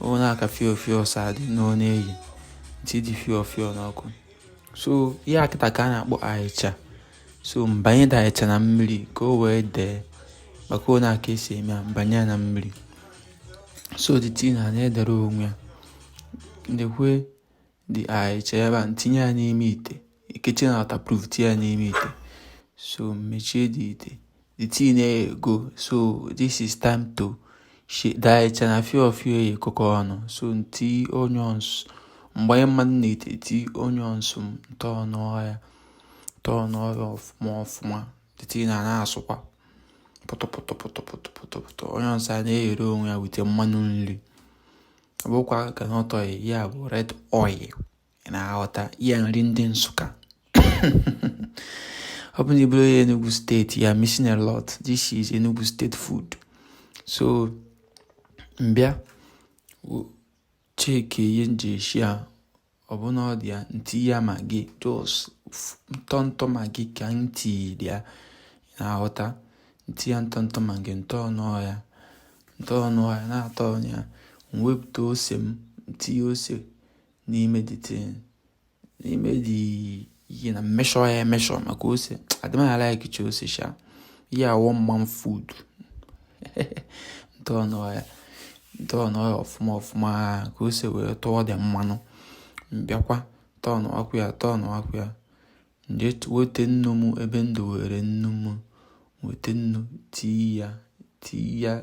ọ na-aka fio fio si adị n'ọ na-eyi m tii the fio fio n'ọkụ so ihe a kịta ka a na-akpọ ahịcha so m banye the ahịcha na mmiri ka o wee dee maka ọ na-aka esi eme ya m banye ya na mmiri so the thing a na-edere onwe ya ndekwe the ahịcha ebe a m tinye ya n'ime ite kechie na waterproof tinye ya n'ime ite so mechie the ite the thing eyigo so this is time to the ahịcha na fio fio ekokọ ọnụ so m tii onions m gbanye mmanụ n'ite tii onions m turnụa ya turnụa ya ọfụma ọfụma the thing a na-asụkwa pụtụpụtụpụtụpụtụpụtụ onions a na-eghere onwe ya with mmanụ nri ọ bụkwa groundnut oil ọ bụ red oil na-aghọta ya nri ndị Nsụka ọ bụ na ị bụrọ onye Enugu state you're missing a lot this is Enugu state food so m bịa checkie ihe m ji eshi ya ọ bụ na ọ dị ya m tii ya Maggi just ntọntọ Maggi ka m tii there na-aghọta m tii ya ntọntọ Maggi m turnụa ya m turnụa ya na-aturnụ ya m wepụta ose m m tinye ose n'ime the thing n'ime the ihe na m measure ya emeasure maka ose adịmaghị alike chi ose sha ihe awọ na my food m turnụa ya m turnụa ya ọfụma ọfụma ka ose wee tụọ the mmanụ m bịakwa turnụakwa ya turnụakwa ya m jee wete nnu m ebe m dowere nnu m wete nnu tii ya tii ya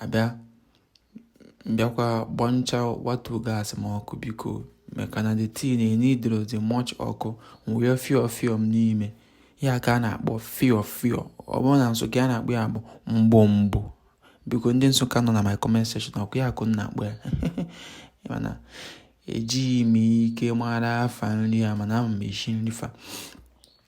abịa m bịakwa gbanchawatụ gas m ọkụ biko maka na the thing eneedrọ too much ọkụ m wee fio fio m n'ime ya ka a na-akpọ fio fio ọ bụrụ na Nsụka a na-akpọ ya ọ bụ mgbụmgbụ biko ndị Nsụka nọ na my comment section ọkwa ya ka ụnụ na-akpọ ya mana ejighị m ike mara afa nri ya mana ama m eshi nri fa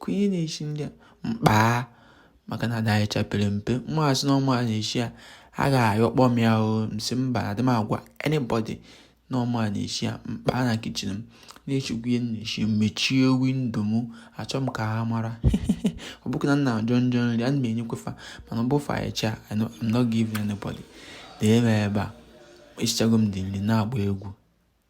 ka onye na-eshi nri a mkpaa maka na the ahịcha pere mpe m asị na ọ mụ na-eshi ya a ga-ayọkpọ m ya o m sị mba adị m agwa anybody na ọ mụ na-eshi ya mkpaa na kitchen m na-eshikwa ihe m na-eshi mechie window m achọ m ka ha mara ọ bụghị na m na-ajọ njọ nri ana m enyekwa fa mana ọ bụ for ahịcha I'm not giving anybody na-eme ebe a eshichago m the nri na-agba egwu